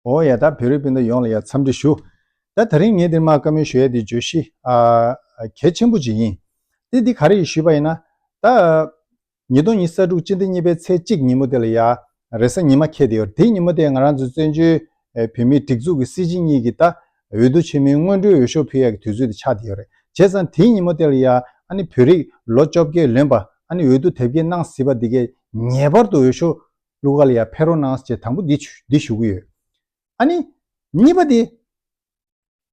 འོ་ཡ་ད་བོད་རིགས་སྤུན་ཟླ་ཡོངས་ལ་ཡ་འཚམས་འདྲི་ཞུ། ད་ད་རིང་ངས་འདིར་མ་དཀའ་མོལ་ཞུ་ཡ་འདི་བརྗོད་གཞི་གལ་ཆེན་པོ་ཅིག་ཡིན། དེ་འདི་ག་རེ་ཞུས་པ་ཡིན་ན། ད། ཉིས་སྟོང་ཉིས་ས་དྲུག་སྤྱི་ཟླ་གཉིས་པའི་ཚེས་གཅིག་ཉིན་མོ་དེ་ལ་ཡ། རེ་ས་ཉིན་མ་ཁེལ་དེ་ཡོད་དེ་ཉིན་མོ་དེ་ང་རང་ཚོའི་བཙན་བྱོལ་བོད་མིའི་སྒྲིག་འཛུགས་ཀྱི་སྲིད་སྤྱི་གཉིས་ཀྱི་ད། འོས་བསྡུ་ཆེན་མོའི་སྔོན་འགྲོའི་འོས་ཤོག་ཕུལ་ཡ་གི་དུས་ཚོད་དེ་ཆགས་དེ་ཡོད་རེད་བྱས་ཙང་དེའི་ཉིན་མོ་དེ་ལ་ཡ། ཨ་ནི་བོད་རིགས་ལོ་བཅོ་བརྒྱད་ལོན་པ་ཨ་ནི་འོས་བསྡུ་དེབ་སྐྱེལ་གནང་སྲིད་པ་འདི་གས་ངེས་པར་དུ་འོས་ཤོག་ལུ་ཀ་ལ་ཡང་ཕེ་རོ་ནཱས་ཅེས་དང་པོ་འདི་ཞུ་གི་ཡོད། ཨ་ནི། གཉིས་པ་དེ།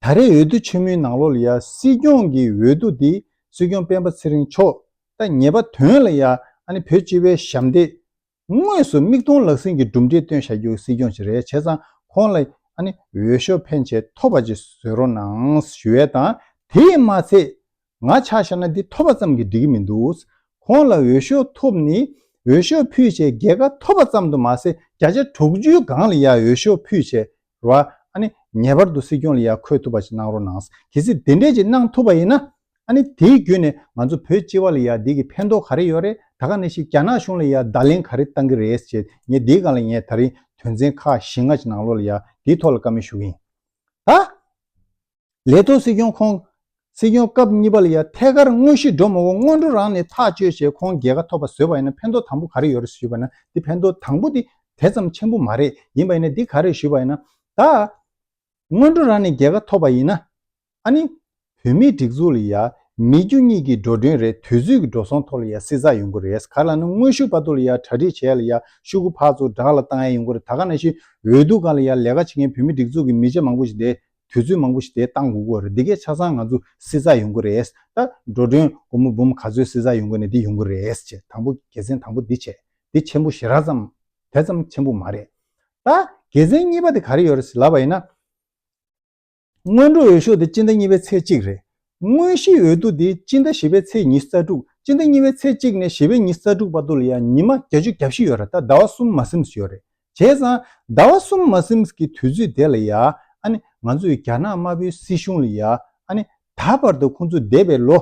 ད་རེས་འོས་བསྡུ་ཆེན་མོའི་ནང་ལོ་ལ་ཡང་སྲིད་སྐྱོང་གི་འོས་བསྡུ་དེ་སྲིད་སྐྱོང་སྤེན་པ་ཚེ་རིང་མཆོག་ད་ཉེས་པ་དོན་ལ་ཡང་ཨ་ནི་བོད་སྤྱི་བའི་ཞབས་འདེགས། དངོས་སུ་མིག་མཐོང་ལག་ཟིན་གྱི་གྲུབ་འབྲས་སྟོན་བཞག་རྒྱུ་སྲིད་སྐྱོང་ཅིག་རེད་བྱས་ཙང་ཁོང་ལ་ཨ་ནི་འོས་ཤོག་ཕན་ཆད་ཐོབ་པ་ཅིག་བཟོས་རོགས་གནང་ཞུ་ཡས་དང་དེས་མ་ཚད་ང་ཕྱག་བྱས་ན་འདི་ཐོབ་པ་ཙམ་གྱིས་འགྲིག་གི་མི་འདུག་ཁོང་ལ་འོས་ཤོག་ཐོབ་ནི་འོས་ཤོག་ཕུལ་བྱས་རྒྱལ་ཁ་ཐོབ་པ་ཙམ་དུ་མ་ཟད་བརྒྱ་ཆ་དྲུག་ཅུའི་སྒང་ལ་ཡང་འོས་ཤོག་ཕུལ་བྱས་རོགས་ཨ་ནི་ངེས་པར་དུ་སྲིད་སྐྱོང་ལ་ཡང་འཁོད་ཐུབ་པ་ཞིག་གནང་རོགས་གནང་གལ་སྲིད་དེ་འདྲས་ཅིག་གནང་ཐུབ་པ་ཡིན་ན་ཨ་ནི་དེའི་བརྒྱུད་ནས་ང་ཚོ་བོད་སྤྱི་བ་ལ་ཡང་འདི་གི་ཕན་ཐོག་ག་རེ་ཡོད་རེད་ད་ག་ནས་ཤིག་རྒྱ་ནག་གཞུང་ལ་ཡང་བརྡ་ལན་ག་རེ་བཏང་གི་རེད་ཅེས་ངས་འདིའི་སྒང་ལ་ངས་ད་རིང་དོན་ཚན་ཁག་བཞི་ལྔ་ཅིག་ནང་ལོགས་ལ་ཡང་འདིའི་ཐོག་ལ་བཀའ་མོལ་ཞུ་གི་ཡིན་ད། ལས་ཐོག་སྲིད་སྐྱོང་ཁོང་སྲིད་སྐྱོང་སྐབས་གཉིས་པ་ལ་ཡང་ཐད་ཀར་དངོས་གཞི་འགྲོ་མ་འོང་སྔོན་འགྲོ་རང་ནས་ཐག་གཅོད་བྱས་ཁོང་རྒྱལ་ཁ་ཐོབ་པ་བཟོས་པ་ཡིན་ན་ཕན་ཐོག་དང་པོ་ག་རེ་ཡོད་རེད་ཞུས་པ་ན་འདི་ཕན་ཐོག་དང་པོ་འདི་དེ་ཙམ་ཆེན་པོ་མ་རེད་ཡིན་པ་ཡིན་ན་འདི་ག་རེད་ཞུས་པ་ཡིན་ན། ད་སྔོན་འགྲོ་རང་ནས་རྒྱལ་ཁ་ཐོབ་པ་ཡིན་ན་ཨ་ནི་བོད་མིའི་སྒྲིག་འཛུགས་ལ་ཡང་མི་རྒྱུ་གཉིས་ཀྱི་འགྲོ་གྲོན་རེད་དུས་ཚོད་ཀྱི་འགྲོ་སོང་ཐོག་ལ་ཡང་བསྲི་ཚགས་ཡོང་གི་རེད་ག་ལ་ནི་དངོས་ཤུགས་དཔའ་ཐུག་ལ་ཡང་གྲ་སྒྲིག་བྱས་ལ་ཡང་ཤུགས་ཁུ་ཕག་ཚོ་བསྒྲགས་ལ་བཏང་ཡ་ཡོང་གི་རེད་ད་ག་ནང་བཞིན་འོས་བསྡུ་སྒང་ལ་ཡང་ལས་ཀ་བྱེད་མཁན་བོད་མི་སྒྲིག་འཛུགས་ཀྱི་མི་ཆེ་མང་པོ་ཞིག་བསྡད་དུས་ཚོད་མང་པོ་ཞིག་དེ་བཏང་དགོས་ཀྱི་རེད་འདི་གས་ཆ་ཚང་ང་ཚོ་བསྲི་ས་ཡོང་གི་རེད་ད། འགྲོ་གྲོན་སྒོར་མོ་འབུམ་ག་ཚོད་བསྲི་ས་ཡོང་གི་ནས་འདི་ཡོང་གི་རེད་ཅེས་དང་པོ་དགེ་མཚན་དང་པོ་འདི་བྱས་འདི་ཆེན་པོ་ཞེ་རགས་ཙམ་དེ་ཙམ་ཆེན་པོ་མ་རེད། ད་དགེ་མཚན་གཉིས་པ་དེ་ག་རེ་ཡོད་རེད་ལབ་པ་ཡིན་ན། སྔོན་འགྲོ་འོས་ཤོག་དེ་སྤྱི་ཟླ་གཉིས་པའི་ཚེས་གཅིག་རེད། དངོས་གཞིའི་འོས་བསྡུ་དེ་སྤྱི་ཟླ་བཞི་པའི་ཚེས་ཉི་རྩ་དྲུག་སྤྱི་ཟླ་གཉིས་པའི་ཚེས་གཅིག་ནས་བཞི་པའི་ཉི་རྩ་དྲུག་བར་དུ་ལ་ཡང་ཉི་མ་བརྒྱ་ཅུ་གྱ་བཞི་ཡོད་རེད་ད་ཟླ་བ་གསུམ་མ་སིམས་སུ་ཡོད་རེད་བྱས་ཙང་ཟླ་བ་གསུམ་མ་སིམས་ཀྱི་དུས་ཚོད་དེ་ལ་ཡ་ཨ་ནི་ང་ཚོས་རྒྱ་ནག་དམར་པོའི་སྲིད་གཞུང་ལ་ཡ་ཨ་ནི་ད་བར་དུ་ཁོང་ཚོས་འདས་པའི་ལོ་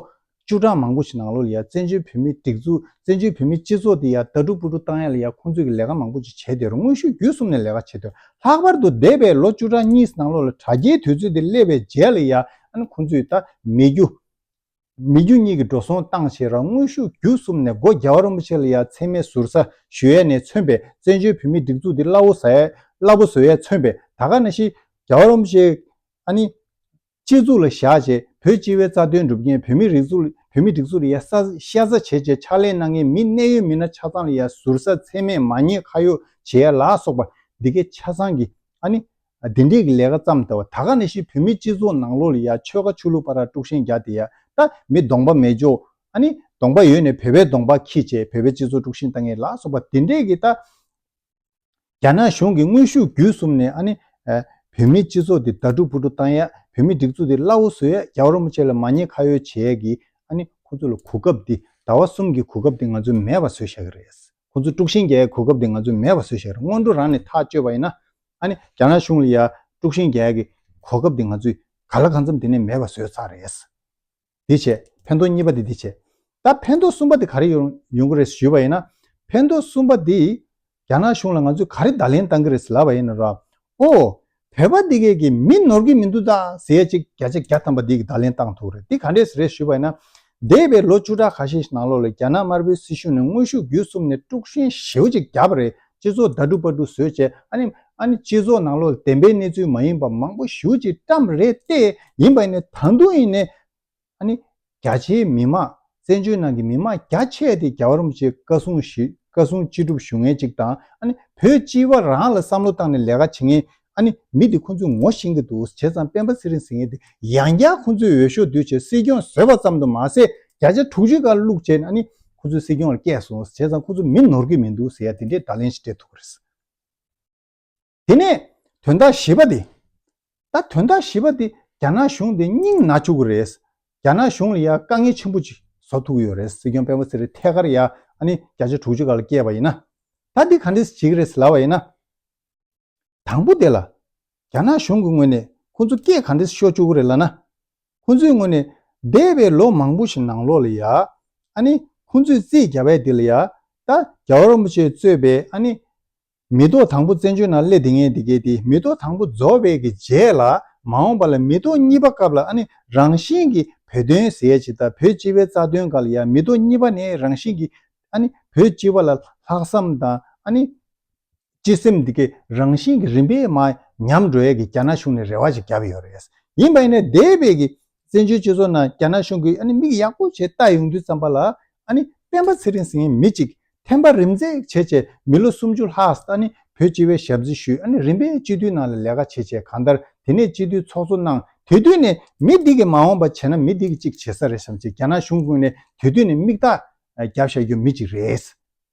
བཅུ་གྲངས་མང་པོ་ཞིག་ནང་ལོ་ལ་ཡ་བཙན་བྱོལ་བོད་མིའི་སྒྲིག་འཛུགས་བཙན་བྱོལ་བོད་མིའི་སྤྱི་ཚོགས་དེ་ཡ་ལྟ་སྒྲུབ་སྤུ་སྒྲུབ་བཏང་ཡ་ལ་ཡ་ཁོང་ཚོས་ཀྱི་ལས་ཀ་མང་པོ་ཅིག་བྱས་དེ་རུ་དངོས་ཤུགས་བརྒྱུད་གསུམ་ནས་ལས་ཀ་བྱས་དེ་ལྷག་པར་དུ་འདས་པའི་ལོ་བཅུ་གྲངས་གཉིས་ནང་ལོ་ལ་དྲ་རྒྱའི་དུས་ཚོད་དེ་སླེབས་པའི་རྗེས་ལ་ཡ་ཨ་ནི་ཁོང་ཚོས་ད་མི་རྒྱུ་མི་རྒྱུ་གཉིས་ཀྱི་འགྲོ་སོང་བཏང་བྱས་ར་དངོས་ཤུགས་བརྒྱུད་གསུམ་ནས་སྒོ་རྒྱ་བ་རིན་པོ་ཆེ་ལ་ཡ་མཚན་མའི་ཟུར་ཟ་ཞུ་ཡས་ནས་མཚོན་པའི་བཙན་བྱོལ་བོད་མིའི་སྒྲིག་འཛུགས་འདི་སླ་བོ་ཟ་ཡས་སླ་པོ་བཟོ་ཡས་མཚོན་པའི་ད་ག་ན་ཤི་རྒྱ་བ་རིན་པོ་ཆེ་ཨ་ནི། སྤྱི་གཙུག་ལ་བཞག་བྱས་བོད་སྤྱི་བའི་རྩ་དོན་སྒྲུབ་མཁན་བོད་མི་རིགས་གཟུགས་བོད་མི་སྒྲིག་འཛུགས་ལ་ཡ་ས་ཤ་ཟ་བྱས་བྱས་ཕྱག་ལེན་གནང་མཁན་མི་གནད་ཡོད་མི་སྣ་ཆ་ཚང་ལ་ཡ་ཟུར་ཟ་མཚན་མས་མ་ཉེས་ཁ་ཡོག་བྱས་ཡས་ལ་སོགས་པ་འདི་གའི་ཆ་ཚང་གི་ཨ་ནི། བདེ་འགྲིག་གི་ལས་ཀ་བརྩམས་ལྟ་བུ་ད་ག་ནས་ཤི་བོད་མི་སྤྱི་ཚོགས་ནང་ལོག་ལི་ཡ་ཆོལ་ཁ་ཆོས་ལུགས་པ་ར་དཀྲུག་ཤན་རྒྱག་དེ་ཡ་ད་མི་གདོང་པ་མེད་འཇོག་ཨ་ནི་གདོང་པ་ཡོད་ནས་བོད་པའི་གདོང་པ་ཁྱི་བྱས་བོད་པའི་སྤྱི་ཚོགས་དཀྲུག་ཤན་ད་ངས་ལ་སོགས་པ་དེ་འདྲས་གི་ད། རྒྱ་ནག་གཞུང་གི་དངོས་ཤུགས་བརྒྱུད་གསུམ་ནས་ཨ་ནི། བོད་མི་སྤྱི་ཚོགས་དེ་དར་དཀྲུག་ཕུ་དཀྲུག་བཏང་ཡ་བོད་མི་སྒྲིག་འཛུགས་དེ་སླ་བོ་བཟོས་ཡ་རྒྱ་བོར་མོ་ཆེ་ལ་མ་ཉེས་ཁ་ཡོལ་བྱས་ཡ་གི་ཨ་ནི་ཁོ་ཚོ་ལ་གོ་སྐབས་དེ་ཟླ་བ་གསུམ་གི་གོ་སྐབས་དེ་ང་ཚོས་མེད་པ་བཟོས་ཤག་གི་རེད། ཁོ་ཚོ་དཀྲུགས་ཤིང་རྒྱལ་གྱི་གོ་སྐབས་དེ་ང་ཚོས་མེད་པ་བཟོས་ཤག་རེད་སྔོན་འགྲོ་རང་ནས་ཐག་གཅོད་པ་ཡིན་ན་ཨ་ནི་རྒྱ་ནག་གཞུང་ལ་ཡ་དཀྲུགས་ཤིང་རྒྱལ་གྱི་གོ་སྐབས་དེ་ང་ཚོས་ག་ལ་གང་འཚམས་དེ་ནས་མེད་པ་བཟོས་ཚར་རེད། དེ་བྱས་ཕན་ཐོག་གཉིས་པ་དེ་དེ་བྱས། ད་ཕན་ཐོག་གསུམ་པ་དེ་ག་རེ་ཡོང་ཡོང་གི་རེད་ཞུས་པ་ཡིན་ན། ཕན་ཐོག་གསུམ་པ་དེ་རྒྱ་ནག་གཞུང་ལ་ང་ཚོས་ག་རེ་བརྡ་ལན་བཏང་གི་རེད་ལབ་པ་ཡིན་ན་ར། ཨོ། བོད་པ་འདི་གས་ཀྱི་མི་ནོར་གྱི་མི་འདུག་ད་ཟེར་ཡས་ཅིག་བརྒྱ་ཆ་བརྒྱ་ཐམ་པ་འདི་གི་བརྡ་ལན་བཏང་ཐུག་རེད་འདི་ག་འདྲས་རེད་ཞུས་པ་ཡིན་ན། འདས་པའི་ལོ་བཅུ་ཕྲག་ཁ་ཤས་ནང་ལོག་ལས་རྒྱ་ནག་དམར་པོའི་སྲིད་གཞུང་ནས་དངོས་ཤུགས་བརྒྱུད་གསུམ་ནས་དཀྲུག་ཤིང་ཞེའུ་ཅིག་བརྒྱབ་པ་རེད་སྤྱི་ཚོགས་ཟླ་དྲུག་པ་དྲུག་བཟོས་བྱས་ཨ་ནི་ཨ་ནི་སྤྱི་ཚོགས་ནང་ལོག་ལ་བདེན་པའི་གནས་ཚུལ་མ་ཡིན་པ་མང་པོ་ཞེའུ་ཅིག་བཀྲམས་རེད་ལྟས་ཡིན་པ་ཡིན་ནས་ད་དུང་ཡིན་ནས་ཨ་ནི། རྒྱ་ཆེའི་མི་དམངས་བཙན་བྱོལ་ནང་གི་མི་དམངས་རྒྱ་ཆེ་དེ་རྒྱ་གར་རིན་པོ་ཆེ་བཀའ་སྲུང་བཀའ་སྲུང་སྤྱི་སྒྲུབ་ཞུ་ངེས་ཅིག་དང་ཨ་ནི་བོད་སྤྱི་བ་རང་ལ་བསམ་བློ་བཏང་ནས་ལས་ཀ་བྱེད་ངེས་ཨ་ནི་མི་དེ་ཁོ་ཚོས་ངོ་ཤེས་གི་འདུག་བྱས་ཙང་སྤེན་པ་ཚེ་རིང་ཟེར་མཁན་དེ་ཡང་བསྐྱར་ཁོ་ཚོས་འོས་ཤོག་བསྡུས་བྱས་སྲིད་སྐྱོང་བཟོས་པ་ཙམ་དུ་མ་ཟད་བརྒྱ་ཆ་དྲུག་ཅུ་ཀ་བླུགས་བྱས་ནས་ཨ་ནི་ཁོ་ཚོས་སྲིད་སྐྱོང་ལ་བསྐྱལ་སོང་བྱས་ཙང་ཁོ་ཚོ་མི་ནོར་གི་མི་འདུག་ཟེར་ཡ་དེ་འདྲའི་བརྡ་ལན་ཞིག་སྤྲད་ཐུབ་ཀི་རེད། དེ་ནས་དོན་དག་བཞི་པ་དེ། ད་དོན་དག་བཞི་པ་དེ་རྒྱ་ནག་གཞུང་དེ་སྙིང་ན་བཅུག་གི་རེད། རྒྱ་ནག་གཞུང་ལ་ཡ་དཀའ་ངལ་ཆེན་པོ་ཅིག་བཟོ་ཐུག་གི་ཡོད་རེད་སྲིད་སྐྱོང་སྤེན་པ་ཚེ་རིང་ཐད་ཀར་ཡ་ཨ་ནི་བརྒྱ་ཆ་དྲུག་ཅུ་ག་ལ་སྐྱེས་པ་ཡིན་ན། ད་འདི་ག་འདྲས་བྱེད་ཀྱི་རེད་ཟེར་ལབ་པ་ཡིན་ན། དང་པོ་དེ་ལ། རྒྱ་ནག་གཞུང་གི་ངོས་ནས་ཁོ་ཚོ་སྐད་ག་འདྲས་ཤོད་བཅུག་གི་རེད་ལ་ན། ཁོ་ཚོའི་ངོས་ནས་འདས་པའི་ལོ་མང་པོ་ཞིག་ནང་ལོགས་ལ་ཡ་ཨ་ནི་ཁོ་ཚོས་རྩིས་རྒྱ་བལ་འདི་ལ་ཡ་ད་རྒྱལ་བ་རིན་པོ་ཆེས་གཙོས་པའི་ཨ་ནི། མི་ལྡོག་དང་པོ་བཙན་བྱོལ་ན་སླེ་དེ་ངན་དེ་གེ་དེ་མི་ལྡོག་དང་པོ་རྫོགས་པའི་གི་རྗེས་ལ་མ་འོངས་པ་ལ་མི་ལྡོག་གཉིས་པ་སྐབས་ལ་ཨ་ནི་རང་བཞིན་གི་བོད་དོན་ཟས་ཇི་ལྟར་བོད་སྤྱི་བའི་རྩ་དོན་ག་ལ་ཡ་མི་ལྡོག་གཉིས་པ་ནི་རང་བཞིན་གི་ཨ་ནི་བོད་སྤྱི་བ་ལ་ལྷག་བསམ་དང་ཨ་ནི། སྤྱི་སེམས་དེ་གེ་རང་བཞིན་གི་རིམ་པས་མ་ཉམས་འགྲོ་ཡ་གི་རྒྱ་ནག་གཞུང་ནས་རེ་བ་ཞིག་བརྒྱབ་ཡོད་རེད་ཡིན་པ་ཡིན་ན་འདས་པའི་གི་བཙན་བྱོལ་སྤྱི་ཚོགས་ནང་རྒྱ་ནག་གཞུང་གིས་མིག་ཡག་པོ་བྱས་བལྟ་ཡོང་དུས་ཙམ་པ་ལ། སྤེན་པ་ཚེ་རིང་ཟེར་མི་གཅིག་ཐན་པ་རིམ་འཛེག་བྱས་བྱས་མི་ལོ་སུམ་ཅུ་ལྷག་བོད་སྤྱི་བའི་ཞབས་རྫི་ཞུས་རིམ་པས་སྤྱི་འཐུས་ནང་ལ་ལས་ཀ་བྱས་བྱས་གང་ལྟར་དེ་ནས་སྤྱི་འཐུས་ཚོགས་གཙོ་གནང་དེ་དུས་ནས་མི་འདི་གིས་མ་འོངས་པ་བྱས་ན་མི་འདི་གིས་གཅིག་བྱེད་ས་རེད་བསམ་བྱས་རྒྱ་ནག་གཞུང་ཀུན་ནས་དེ་དུས་ནས་མིག་རྟགས་རྒྱབ་བཞག་རྒྱུ་མི་གཅིག་རེད།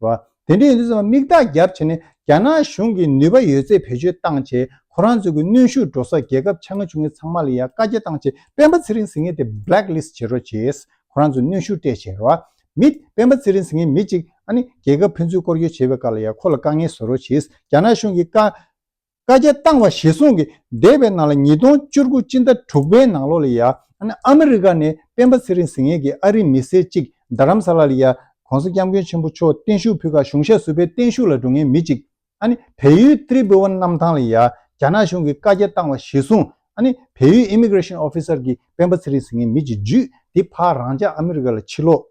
བ། དེ་འདྲའི་ཡིན་དུས་ཚང་མ་མིག་རྟགས་རྒྱབ་ཕྱེ་ནས་རྒྱ་ནག་གཞུང་གིས་ནུས་པ་ཡོད་ཚད་བེད་སྤྱོད་བཏང་ཆེད་ཁོ་རང་ཚོའི་གི་གནོན་ཤུགས་འགྲོ་ས་རྒྱལ་ཁབ་ཆ་ང་ཆུང་ངེ་ཚང་མ་ལ་ཡང་བཀའ་རྒྱ་བཏང་ཆེད་སྤེན་པ་ཚེ་རིང་ཟིང་ངེ་དེ Black List བྱེད་རོགས་བྱེད། ཁོ་རང་ཚོས་གནོན་ཤུགས་སྤྲད་བྱས། མི། སྤེན་པ་ཚེ་རིང་ཟིང་ངེ་མི་གཅིག་ཨ་ནི་རྒྱལ་ཁབ་ཕན་ཚུན་བསྐོར་བསྐྱོད་བྱེད་པའི་བཀའ་ལ་ཡང་ཁོ་ལ་དཀའ་ངལ་བཟོ་རོགས་བྱེད་རྒྱ་ནག་གཞུང་གིས་བཀའ་བཀའ་རྒྱ་བཏང་བ་གཞི་བཟུང་གིས་འདས་པའི་ནང་ལ་ཉིས་སྟོང་བཅུ་དགུ་སྤྱི་ཟླ་དྲུག་པའི་ནང་ལོ་ལ་ཡ་ཨ་མི་རི་ཀ་ནས་སྤེན་པ་ཚེ་རིང་ཟི་ངེ་གིས་ཨ་རིའི་མི་སེར་གཅིག་རྡ་རམ་ས་ལ་ལ་ཡ ྋགོང་ས ྋསྐྱབས་མགོན་ཆེན་པོ་མཆོག་བརྟན་བཞུགས་ཕུལ་ཁར་གཞུང་ཞབས་སུ་པའི་བརྟན་བཞུགས་ལ་འགྲོ་མཁན་མི་གཅིག་བལ་ཡུལ་ཏྲི་བྷི་ཝན་གནམ་ཐང་ལ་ཡ་རྒྱ་ནག་གཞུང་གིས་བཀའ་རྒྱ་བཏང་བ་གཞི་བཟུང་བལ་ཡུལ་ཨི་མི་གྲེ་ཤིན་ཨོ་ཕི་སར་གྱིས་སྤེན་པ་ཚེ་རིང་ཟི་ངེ་མི་གཅིག་བརྒྱུད་དེ་ཕ་རང་ཅག་ཨ་མི་རི་ཀ་ལ་ཕྱིར་ལོག་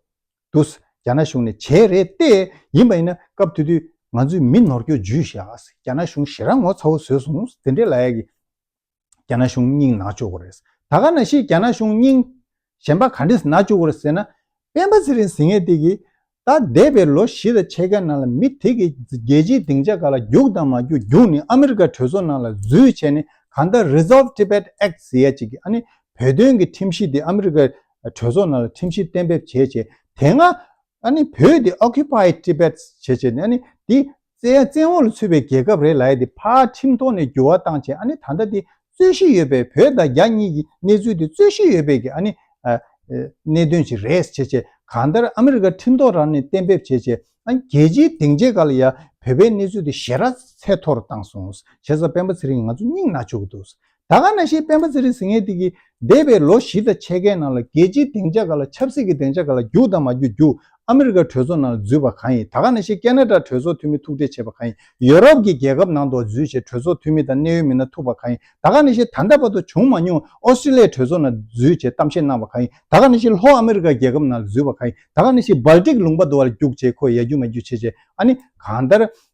འདུག་རྒྱ་ནག་གཞུང་ནས་བྱས་རེད་བལྟས། ཡིན་པ་ཡིན་ན་སྐབས་དེ་དུས་ང་ཚོས་མི་ནོར་སྐྱོ་ཇུས་ཤིག་རྒྱ་ནག་གཞུང་ཞེ་ར་ངོ་ཚ་བོ་བཟོས་སོང་དེ་འདྲའི་ལ་ཡ་གི་རྒྱ་ནག་གཞུང་སྙིང་ནག་ཅོ་གོ་རེད་ད་ག་ན་ཞིག་རྒྱ་ནག་གཞུང་སྙིང་གཞན་པ་ག་འདྲས་ནག་ཅོ་གོ་རེད་ཟེར་ན། སྤེན་པ་ཚེ་རིང་ཟིང་ངེ་དེ་གིས་ད་འདས་པའི་ལོ་བཞི་དང་ཕྱེད་ཀའི་ནང་ལ་མི་དེ་གིས་རྒྱལ་སྤྱིའི་སྡིངས་ཆ་ག་ལ་རྒྱུགས་དང་མ་རྒྱུགས་རྒྱུགས་ནི་ཨ་མི་རི་ཀ་གྲོས་ཚོགས་ནང་ལ་འཛུལ་བྱས་ནས་གང་ལྟར Resolve Tibet Act ཟེར་ཡ་གཅིག་གིས་ཨ་ནི་བོད་དོན་གྱི་ཁྲིམས་གཞི་དེ་ཨ་མི་རི་ཀ་གྲོས་ཚོགས་ནང་ལ་ཁྲིམས་གཞི་གཏན་འབེབས་བྱས་རྗེས་དེ་སྔ་བོད་དེ Occupied Tibet བྱས་རྗེས་ནས་དེ་བཙན་འོག་ལ་ཚུད་པའི་རྒྱལ་ཁབ་རེད་ལ་དེ་ཕར་ཁྲིམས་ཐོག་ནས་འགྱུར་བ་བཏང་རྗེས་ད་ལྟ་དེ་རྩོད་གཞི་ཡོད་པའི་བོད་དང་རྒྱ་གཉིས་ཀྱི་གནས་ཚུལ་དེ་རྩོད་གཞི་ཡོད་པའི་གནད་དོན་ཞིག་རེད་བྱས་རྗེས་གང་ལྟར་ཨ་མི་རི་ཀ་ཁྲིམས་ཐོག་རང་ནས་གཏན་འབེབས་བྱས་རྗེས་རྒྱལ་སྤྱིའི་སྡིངས་ཆའི་ག་ལ་ཡང་བོད་པའི་གནས་ཚུལ་དེ་ཞེ་ར་ཚད་མཐོ་རུ་བཏང་སོང། བྱས་ཙང་སྤེན་པ་ཚེ་རིང་ང་ཚོ་སྙིང་ན་བཅུག་གི་འདུག་ད་ག་ན་ཤེས་སྤེན་པ་ཚེ་རིང་ཟིང་ངེ་ཏིག་གིས་འདས་པའི་ལོ་བཞི་དང་ཕྱེད་ཀའི་ནང་ལ་རྒྱལ་སྤྱིའི་སྡིངས་ཆ་ག་ལ་ཆབ་སྲིད་ཀྱི་སྡིངས་ཆ་ག་ལ་རྒྱུགས་དང་མ་རྒྱུགས་རྒྱུགས་ཨ་མི་རི་ཀ་གྲོས་ཚོགས་ནང་ལ་འཛུལ་བ་གང་ཡིན་ད་ག་ན་ཤེས་ཀེ་ནཱ་ཏྲ་གྲོས་ཚོགས་འཐུས་མི་ཐུག་འཕྲད་བྱས་པ་གང་ཡིན་ཡོ་རོབ་ཀྱི་རྒྱལ་ཁབ་ནང་དུ་འཛུལ་བྱས་གྲོས་ཚོགས་འཐུས་མི་དང་གནད་ཡོད་མི་སྣ་ཐུག་པ་གང་ཡིན་ད་ག་ན་ཤེས་ད་ལྟ་བར་དུ་བྱུང་མ་མྱོང་ཨོ་སི་ཏྲེ་ལི་ཡའི་གྲོས་ཚོགས་ནང་འཛུལ་བྱས་གཏམ་བཤད་གནང་བ་གང་ཡིན་ད་ག་ན་ཤེས་ལྷོ་ཨ་མི་རི་ཀ་རྒྱལ་ཁབ་ནང་ལ་འཛུལ་བ་གང་ཡིན་ད་ག་ན་ཤེས་སྦལ་ཏིག་ལུང་པ་དུ་བར་རྒྱུགས་བྱས་ཁོས་ཡ་རྒྱུགས་མ་རྒྱུགས་བྱས་བྱས་ཨ་ནི་གང་ལྟར་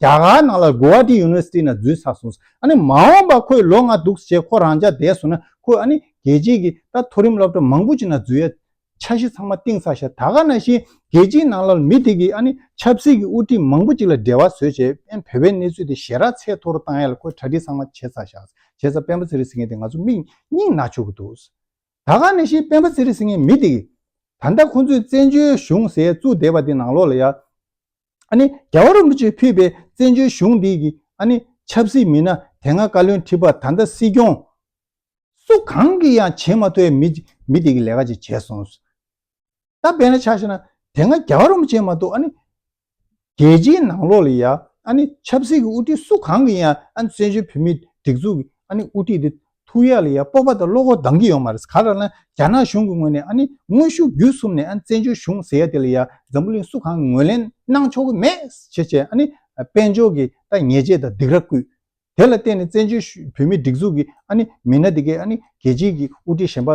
རྒྱ་གར་ནང་ལ་གུ་ཝཱ་ཏི་ཡུ་ནི་ཝར་སི་ཏི་ནང་འཛུལ་ཚར་སོང་ཟེར། ཨ་ནི་མ་འོངས་པ་ཁོས་ལོ་ལྔ་འདུག་ཞེས་ཁོ་རང་འཇགས་བསྡད་སོང་ན་ཁོས་ཨ་ནི་རྒྱལ་སྤྱིའི་གི་ད་མཐོ་རིམ་སློབ་གྲྭ་མང་པོ་ཅིག་ནང་འཛུལ་ཡ། འཆར་གཞི་ཚང་མ་གཏིང་ཟ་ཞེས་ད་ག་ན་བཞིན་རྒྱལ་སྤྱིའི་ནང་ལ་མི་དེ་གིས་ཨ་ནི་ཆབ་སྲིད་ཀྱི་དབུ་ཁྲིད་མང་པོ་ཅིག་ལ་འབྲེལ་བ་བཟོས་བྱས་པན་བོད་པའི་གནས་ཚུལ་དེ་ཞེ་རགས་ཚད་མཐོ་རུ་བཏང་ཡ་ལ་ཁོས་གྲ་སྒྲིག་ཚང་མ་བྱས་ཚར་བཞག་བྱས་ཚར་པན་པ་ཚེ་རིང་ཟེར་མཁན་དེ་ང་ཚོ་མིག་སྙིང་ན་བཅུག་གི་འདུག་ཟེར། ད་ག་ན་བཞིན་པན་པ་ཚེ་རིང་ཟེར་མཁན་མི་དེ་གིས། ད་ལྟ་ཁོ་ཚོས་བཙན་བྱོལ་གཞུང་ཟེར་བཙུགས་བསྡད་པ་དེ་ནང་ལོགས་ལ་ཡ། ཨ་ནི་རྒྱལ་བ་རིན་པོ་ཆེས་ཕུལ་པའི་བཙན་བྱོལ་གཞུང་འདི་གི་ཨ་ནི་ཆབ་སྲིད་མི་སྣ་དེ་སྔ་བཀའ་བློན་ཁྲི་པ་ད་ལྟ་སྲིད་སྐྱོང། སུ་གང་གི་ཡང་བྱེད་མ་ཐུབ་པའི་མི་དེ་གི་ལས་ཀ་ཅིག་བྱས་སོང། ད་དཔེ་ན་ཆ་ཤེས་ན་དེ་སྔ་རྒྱལ་བ་རིན་པོ་ཆེ་མ་གཏོགས་ཨ་ནི་རྒྱལ་སྤྱིའི་ནང་ལོགས་ལ་ཡང་ཨ་ནི་ཆབ་སྲིད་གི་དབུ་ཁྲིད་སུ་གང་གི་ཡང་ཨ་ནི་བཙན་བྱོལ་བོད་མིའི་སྒྲིག་འཛུགས་ཀྱི་ཨ་ནི་དབུ་ཁྲིད་དེ་ཐུགས་ཡག་ལ་ཡ་སྤོབས་པ་དང་བློ་ཁོག་འདང་གི་ཡོང་མ་རེད་ག་རང་ན་རྒྱ་ནག་གཞུང་གི་ངོས་ནས་ཨ་ནི་དངོས་ཤུགས་བརྒྱུད་གསུམ་ནས་ཨ་ནི་བཙན་བྱོལ་གཞུང་ཟེར་ཡ་དེ་ལ་ཡ་འཛམ་བུ་གླིང་སུ་གང་གི་ངོས་ལེན་གནང་ཆོག་གི་མེད་ཞེས་བྱས་ཨ་ནི་དཔལ་འབྱོར་གི་ལྟ་ཉེས་ཆད་དང་སྡིགས་ར་བསྐུལ། དེ་ལ་བརྟེན་ནས་བཙན་བྱོལ་བོད་མིའི་སྒྲིག་འཛུགས་ཀྱི་ཨ་ནི་མི་སྣ་དེ་གས་ཨ་ནི་རྒྱལ་སྤྱིའི་གི་དབུ་ཁྲིད་གཞན་པ་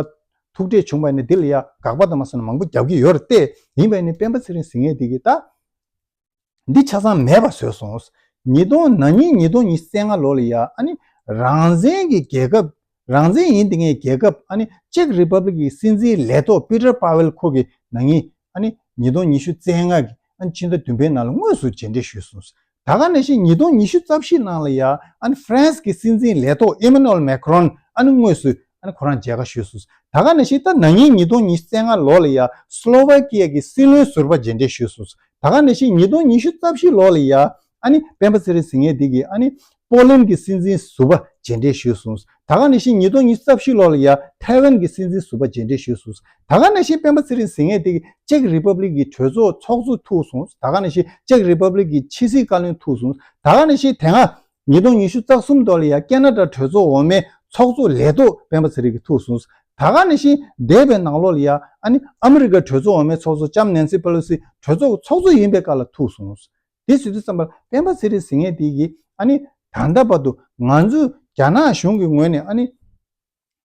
ཐུགས་ཁྲལ་བྱུང་བ་ནི་དེ་ལ་ཡ་དགག་པ་དང་མ་སོ་ན་མང་པོ་རྒྱབ་ཀྱི་ཡོད་རེད་ཏེ་ཡིན་པ་ནི་སྤེན་པ་ཚེ་རིང་ཟིང་ངེ་དེ་གས་ད་འདི་ཆ་ཚང་མེད་པ་བཟོས་སོང། ཉིས་སྟོང་ན་ཉིས་ཉིས་སྟོང་ཉིས་བརྩེགས་ལྔ་ལོ་ལ་ཡ་ཨ་ནི་རང་བཙན་གྱི་རྒྱལ་ཁབ་རང་བཙན་ཡིན་དེ་ངས་རྒྱལ་ཁབ་ཨ་ནི Czech Republic གི་སྲིད་འཛིན་ལས་ཐོག Peter Pavel ཁོ་གི་ན་ཉིས་ཨ་ནི་ཉིས་སྟོང་ཉི་ཤུ་བརྩེགས་ལྔ་གི་ཨ་ནི་ཕྱི་ཟླ་བདུན་པའི་ནང་ལ་དངོས་སུ་མཇལ་འཕྲད་ཞུས་སོང། ད་ག་ནས་ཤེས་ཉིས་སྟོང་ཉི་ཤུ་རྩ་བཞི་ནང་ལ་ཡ་ཨ་ནི France གི་སྲིད་འཛིན་ལས་ཐོག Emmanuel Macron ཨ་ནི་དངོས་སུ་ཁོ་རང་མཇལ་ཁ་ཞུས་སོང། ད་ག་ནས་ཤེས་ད་ནངས་ཉིས་སྟོང་ཉིས་བརྩེགས་ལྔ་ལོ་ལ་ཡ་སློ་ཝེ་ཀི་ཡ་གི་སྲིད་བློན་ཟུར་པ་མཇལ་འཕྲད་ཞུས་སོང། ད་ག་ནས་ཤེས་ཉིས་སྟོང་ཉི་ཤུ་རྩ་བཞི་ལོ་ལ་ཡ་ཨ་ནི་སྤེན་པ་ཚེ་རིང་ཟིང་ངས་དིག་གིས་ཨ་ནི་པོ་ལིན་གི་སྲིད་འཛིན་ཟུར་པ་མཇལ་འཕྲད་ཞུས་སོང། ད་ག་ནས་ཤེས་ཉིས་སྟོང་ཉི་ཤུ་རྩ་བཞི་ལོ་ལ་ཡ་ཐའེ་ཝན་གི་སྲིད་འཛིན་ཟུར་པ་མཇལ་འཕྲད་ཞུས་སོང། ད་ག་ནས་ཤེས་སྤེན་པ་ཚེ་རིང་ཟིང་ངས་དིག་གིས་ཅེཀ་རི་པབ་ལིག་གི་གྲོས་ཚོགས་ཚོགས་གཙོ་ཐུག་སོང། ད་ག་ནས་ཤེས་ཅེཀ་རི་པབ་ལིག་གི་ཕྱི་སྲིད་བཀའ་བློན་ཐུག་སོང། ད་ག་ནས་ཤེས་དེ་སྔ་ཉིས་སྟོང་ཉི་ཤུ་རྩ་གསུམ་དོ་ལི་ཡ་ཀེ་ན་ཀྲ་གྲོས་ཚོགས་འོག་མའི་ཚོགས་གཙོ་ལས་ཐོག་སྤེན་པ་ཚེ་རིང་གིས་ཐུགས་གསུངས། ད་ག་ནས་ཤིང་འདས་པའི་ནང་ལོ་ལི་ཡ་ཨ་ནི་ཨ་མི་རི་ཀ་གྲོས་ཚོགས་འོག་མའི་ཚོགས་གཙོ་ལྕམ་ནན་སི་པེ་ལོ་སི་གྲོས་ཚོགས་ཚོགས་གཙོ་ཡིན་པའི་བཀའ་ལ་ཐུགས་གསུངས། དེ་སྲིད་དུ་བསམ་པར་སྤེན་པ་ཚེ་རིང་གཟིགས་ངེས་དེ་གིས་ཨ་ནི་ད་ལྟ་བར་དུ་ང་ཚོས་རྒྱ་ནག་གཞུང་གི་ངོས་ནས་ཨ་ནི།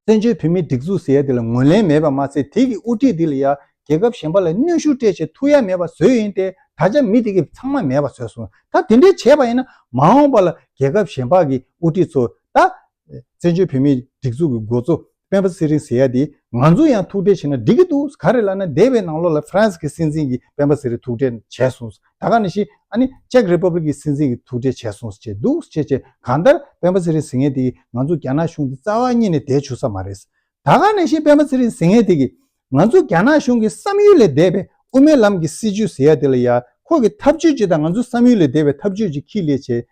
བཙན་བྱོལ་བོད་མིའི་སྒྲིག་འཛུགས་ཟེར་ཡ་འདི་ལ་ངོས་ལེན་མེད་པ་མ་ཟད་དེ་གི་དབུ་ཁྲིད་འདི་ལ་ཡང་རྒྱལ་ཁབ་གཞན་པ་ལ་གནོན་ཤུགས་སྤྲད་བྱེད་ཐུགས་ཡ་མེད་པ་བཟོས་ཡིན་ཏེ་ད་ཆ་མི་དེ་གི་ཚང་མ་མེད་པ་བཟོས་སོང་ད་དེ་འདྲའི་བྱས་པ་ཡིན་ན་མ་འོངས་པ་ལ་རྒྱལ་ཁབ་གཞན་པ་གི་དབུ་ཁྲིད་ཚོ་ད། བཙན་བྱོལ་བོད་མིའི་སྒྲིག་འཛུགས་གི་འགོ་གཙོ་སྤེན་པ་ཚེ་རིང་ཟེར་ཡ་འདི་ང་ཚོ་ཡང་ཐུགས་ཁྲལ་བྱེད་ན་འགྲིག་གི་འདུག་ག་རེ་ལ་ན་འདས་པའི་ནང་ལོག་ལ་ཧྥ་རན་སི་གི་སྲིད་འཛིན་གི་སྤེན་པ་ཚེ་རིང་ཐུགས་ཁྲལ་བྱས་སོང། ད་ག་ནས་ཤེས་ཨ་ནི Czech Republic གི་སྲིད་འཛིན་གྱི་ཐུག་འཕྲད་བྱས་སོང་ཟེར་གྱི་འདུག་ཅེས་བྱས་གང་ལྟར་སྤེན་པ་ཚེ་རིང་ཟིང་ངེ་དེ་གིས་ང་ཚོ་རྒྱ་ནག་གཞུང་གི་རྩ་བ་རྙེད་ནས་བསྡད་བཅུག་ས་མ་རེད། ད་ག་ནས་ཤེས་སྤེན་པ་ཚེ་རིང་ཟིང་ངེ་དེ་གིས་ང་ཚོ་རྒྱ་ནག་གཞུང་གི་བསམ་ཡུལ་ལས་འདས་པའི་དབུ་མའི་ལམ་གྱི་སྲིད་བྱུས་ཟེར་ཡ་དེ་ལ་ཡ་ཁོ་གི་ཐབས་བྱུས་ཅི་དང་ང་ཚོ་བསམ་ཡུལ་ལས་འདས་པའི་ཐབས་བྱུས་ཅི་ཁྱི་ལས་བྱེད་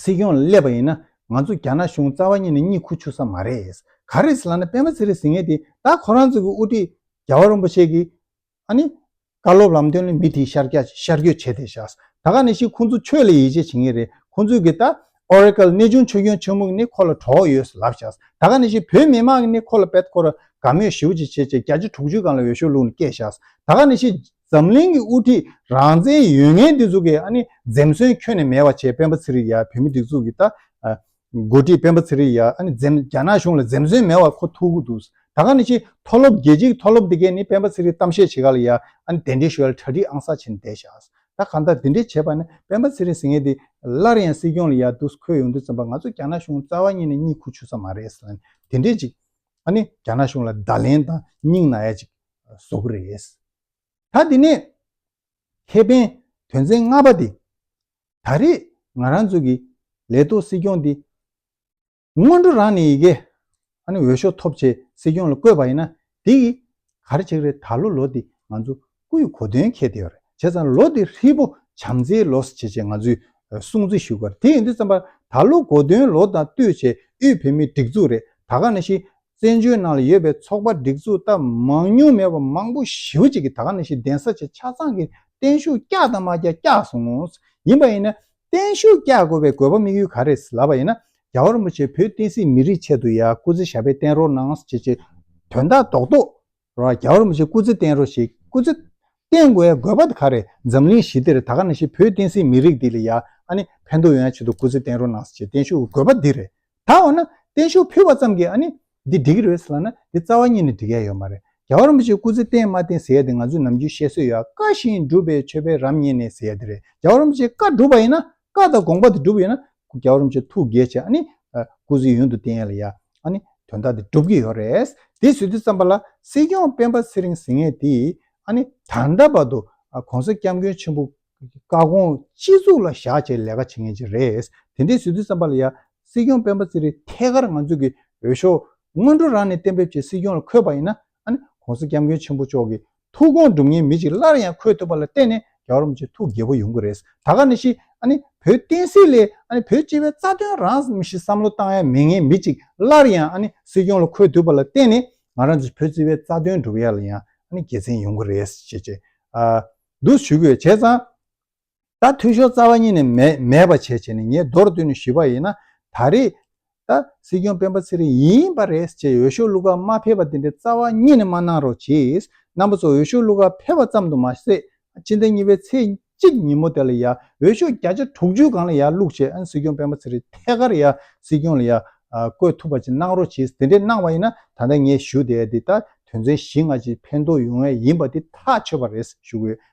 སྲིད་སྐྱོང་ལ་སླེབས་པ་ཡིན་ན་ང་ཚོ་རྒྱ་ནག་གཞུང་རྩ་བ་ཉིད་ནས་གཉིད་ཁུག་ཆུག་ས་མ་རེད། ག་རེ་ཟེར་ལ་ན་པདྨ་ཚེ་རིང་ཟེར་མཁན་དེ་ད་ཁོ་རང་ཚོ་གི་དབུ་ཁྲིད་རྒྱལ་བ་རིན་པོ་ཆེ་གིས་ཨ་ནི། བཀའ་སློབ་ལམ་སྟོན་ལ་མི་དེ་ཤར་རྒྱག་ཅིག་ཤར་བསྐྱོད་བྱས་ཏེ་བཞག་ད་ག་ནས་ཤི་ཁོང་ཚོ་ཆོས་ལ་ཡིད་ཆེས་བྱེད་མཁན་རེད་ཁོང་ཚོས་གི་ད Oracle གནས་ཆུང་ཆོས་སྐྱོང་ཆེན་མོ་གི་ནི་ཁོ་ལ་གྲོགས་ཡོད་ས་ལབ་བཞག་ད་ག་ནས་ཤི་བོད་མི་དམངས་གི་ནི་ཁོ་ལ་བེད་ཁོ་ར་དགའ་མོས་ཞིའུ་ཅིག་བྱེད་བྱེད་བརྒྱ་ཆ་དྲུག་ཅུའི་སྒང་ལ་འོས་ཤོག་བླུག་ནས་སྐད་བཞག་ད་ག་ནས་ཤི། འཛམ་གླིང་གི་དབུ་ཁྲིད་རང་བཙན་ཡོད་ངེས་འདི་ཚོ་གི་ཨ་ནི་འཛེམ་ཟོན་ཁྱོན་ནས་མེད་བ་བྱས་སྤེན་པ་ཚེ་རིང་ཡག་བོད་མི་སྒྲིག་འཛུགས་ཀྱི་ད་མགོ་ཁྲིད་སྤེན་པ་ཚེ་རིང་ཡག་ཨ་ནི་འཛེམ་རྒྱ་ནག་གཞུང་ལ་འཛེམ་ཟོན་མེད་བ་ཁོ་ཐུག་གུ་འདུག་ད་ག་ནི་ཕྱི་མཐོ་སློབ་རྒྱལ་སྤྱི་གི་མཐོ་སློབ་དེ་གས་ནི་སྤེན་པ་ཚེ་རིང་གཏམ་བཤད་བྱེད་ག་ལ་ཡག་ཨ་ནི་དེ་འདྲའི་ཞོལ་གྲ་སྒྲིག་ཨང་གསར་བྱེད་ནི་བསྡད་བཞག་ད་ག་ད་དེ་འདྲའི་བྱས་པ་ནི་སྤེན་པ་ཚེ་རིང་ཟེར་ངེས་འདི་སླར་ཡང་སྲིད་སྐྱོང་ལ་ཡག་འདུག་ཁོས་ཡོང་དུས་ཚན་པ་ང་ཚོ་རྒྱ་ནག་གཞུང་རྩ་བ་ཉིད་ནས་གཉིད་ཁུག་ཆུག་ས་མ་རེད་ཟེར་ན་ནི་དེ་འདྲའི་ཅིག་ཨ་ནི་རྒྱ་ནག་གཞུང་ལ་བརྡ་ལན་དང་སྙིང་ན་ཡ་ཅིག་བཟོ་གི་རེད། ད་དེ་ནས་ཁེ་ཕན་དོན་ཚན་ལྔ་པ་དེ་ད་རེས་ང་རང་ཚོ་གི་ལས་ཐོག་སྲིད་སྐྱོང་དེ་སྔོན་འགྲོ་རང་ནས་ཡི་གེ་འོས་ཤོག་ཐོབ་ཆེད་སྲིད་སྐྱོང་ལ་བསྐོས་པ་ཡིན་ན་དེ་ཡི་གར་ཆག་རེད་ད་ལོ་ལོ་དེ་ང་ཚོ་སྐུའི་གོ་སྟོན་མཁས་དེ་ཡོད་རེད་བྱས་ཙང་ལོ་དེ་ཧྲིལ་པོ་བྱམས་བརྩེའི་ལོ་བྱེད་ཆེད་ང་ཚོས་སྲུང་བརྩི་ཞུ་གི་རེད་དེ་ཡིན་དུས་བརྩམས་པ་ད་ལོ་གོ་སྟོན་ལོ་དང་བསྟུད་ཆེད་དབུས་བོད་མིའི་སྒྲིག་འཛུགས་རེད་ད་ག་ནས་ཤི་བཙན་བྱོལ་ནང་ལ་ཡོད་པའི་ཚོགས་པ་སྒྲིག་འཛུགས་སྟབས་མང་ཉུང་མེད་པར་མང་པོ་ཞིབ་གཅིག་གིས་ད་ག་ནས་ཤེས་གདན་ས་ཆེ་ཆ་ཚང་གིས་བརྟན་བཞུགས་བསྐྱགས་དང་མ་བསྐྱགས་བསྐྱགས་སོང། ཡིན་པ་ཡིན་ན་བརྟན་བཞུགས་བསྐྱགས་དགོས་པའི་དགོས་པ་དམིགས་ཡུལ་ག་རེད་ལབ་པ་ཡིན་ན་རྒྱ་བོ་རིན་པོ་ཆེ་བོད་བསྟན་སྲིད་མི་རིགས་ཆེད་དུ་ཡ་སྐུ་ཚེ་ཞབས་པད་བརྟན་རོགས་གནང་ཞེས་ཀྱི་དོན་དག་རྡོག་རྡོག་རོ་ཨ་རྒྱ་བོར་མི་བྱེད་སྐུ་ཚེ་བརྟན་རོ་ཞིག་སྐུ་ཚེ་བརྟན་དགོས་ཡ་དགོས་པ་དེ་ག་རེད་འཛམ་གླིང་ཞི་བདེར་ད་ག་ན་ཞིག་བོད་བསྟན་སྲིད་མི་རིགས་འདི་ལ་ཡ་ཨ་ནི་ཕན་ཐོག་ཡོད་ཡ་ཆེད་དུ་སྐུ་ཚེ་བརྟན་རོ་གནང་ས་ཆེད་བརྟན་བཞུགས་ཀྱི་དགོས་པ་འདི་རེད་ད་འོ་ན་བརྟན་བཞུགས་ཕུལ་བ་ཙམ་གྱིས་ཨ་ནི་འདི་འགྲིག་གི་རེད་ཟེར་ལ་ན་འདི་རྩ་བ་གཉིས་ནས་འགྲིག་ཡ་ཡོད་མ་རེད་རྒྱ་བོར་མི་བྱེད་སྐུ་ཚེ་བརྟན་མ་བརྟན་ཟེར་ཡ་དེ་ང་ཚོས་ནམ་རྒྱུན་བཤད་སྲོལ་ཡ་བཀའ་བཞིན་སྒྲུབ་པའི་ཆོས་དཔལ་རབ་བརྙེས་ནས་ཟེར་ཡ་དེ་རེད་རྒྱ་བོར་མི་བྱེད་བཀའ་སྒྲུབ་པ་ཡིན་ན་བཀའ་དང་དགོངས་པ་དེ་སྒྲུབ་ཡོད་ན། རྒྱལ་བ་རིན་པོ་ཆེ་ཐུགས་དགྱེས་ཆེ་ཨཱ་ནི། སྐུ་གཟུགས་ཡུན་དུ་བརྟན་ཡོད་ལ་ཡ། ཨཱ་ནི། དོན་དག་དེ་སྒྲུབ་ཀྱི་ཡོད་རེད། དེ་ཟེར་དུས་བརྩམས་པ་ལ། སྲིད་སྐྱོང་སྤེན་པ་ཚེ་རིང་ཟེར་ངེས་དེ། ཨཱ་ནི། ད་ལྟ་བར་དུ། གོང་ས་སྐྱབས་མགོན་ཆེན་པོ། བཀའ་དགོངས་སྤྱི་གཙུག་ལ་བཞག་བྱས་ལས་ཀ་བྱེད་ངེས་ཅི་རེད། དེ་འདྲས་ཟེར་དུས་བརྩམས་པ་ལ་ཡ། སྲིད་སྐྱོང་སྤེན་པ་ཚེ་རིང་ཐད་ཀར་ང་ཚོས་ཀྱི་འོས་ཤོག། སྔོན་འགྲོ་རང་ནས་གཏན་འབེབས་བྱས་སྲིད་སྐྱོང་ལ་འཁོད་པ་ཡིན་ན། ཨཱ་ནི། གོང་ས་སྐྱབས་མགོན་ཆེན་པོ་མཆོག་གིས་ཐུགས་དགོངས་སྒྲུབ་ངེས་མི་གཅིག་སླར་ཡང་འཁོད་ཐུབ་པ་ལ་བརྟེན་ནས་རྒྱ་རོམ་གྱི་ཐུགས་དགྱེས་པོ་ཡོང་གི་རེད། ད་ག་ནས་ཤི། ཨ་ནི། བོད་བསྟན་སྲིད་ལས། ཨ་ནི། བོད་སྤྱི་བའི་རྩ་དོན་རང། ཞི་བསམ་བློ་བཏང་ཡ་མེད་ངེས་མི་གཅིག་སླར་ཡང་ཨ་ནི། སྲིད་སྐྱོང་ལ་འཁོད་ཐུབ་པ་ལ་བརྟེན་ནས་ང་རང་ཚོ་བོད་སྤྱི་བའི་རྩ་དོན་སྒྲུབ་ཡ་ལ་ཡང་ཨ་ནི་དགེ་མཚན་ཡོང་གི་རེད། ཞེས་བརྗོད། འདུག་ཞུ་གི་ཡོད་བྱས་ཙང། ད་འཐུས་ཤོར་རྩ་བ་ཉིད་ནས་མེད་པ་བྱས་བྱས་ནས་ངས་མདོར་བསྡུས་ནས་ཞུས་པ་ཡིན་ན་ད་རེས་ད་སྲིད་སྐྱོང་སྤེན་པ་ཚེ་རིང་ཡིན་པ་རེད་ཅེས་འོས་ཤོག་བླུགས་ཁ་མ་ཕེབས་པ་དེ་འདྲའི་རྩ་བ་ཉིད་ནས་མ་གནང་རོགས་གྱིས་རྣམ་པ་ཚོ་འོས་ཤོག་བླུགས་ཁ་ཕེབས་པ་ཙམ་དུ་མ་ཟད་སྤྱི་ཟླ་གཉིས་པའི་ཚེས་གཅིག་ཉིན་མོ་དེ་ལ་ཡང་འོས་ཤོག་བརྒྱ་ཆ་དྲུག་ཅུའི་སྒང་ལ་ཡང་བླུགས་བྱས་སྲིད་སྐྱོང་སྤེན་པ་ཚེ་རིང་ཐད་ཀར་ཡང་སྲིད་སྐྱོང་ལ་ཡང་བསྐོས་ཐུབ་པ་ཅིག་གནང་རོགས་གྱིས་དེ་འདྲའི་གནང་བ་ཡིན་ན་ད་ལྟ་ངས་ཞུ་བསྡད་དེ་ད་དོན་ཚན་བཞི་ལྔ་ཅིག་ཕན་ཐོགས་ཡོང་ངེས་ཡིན་པ་དེ་ཐག་ཆོད་པ་རེད་ཞུ་དགོས།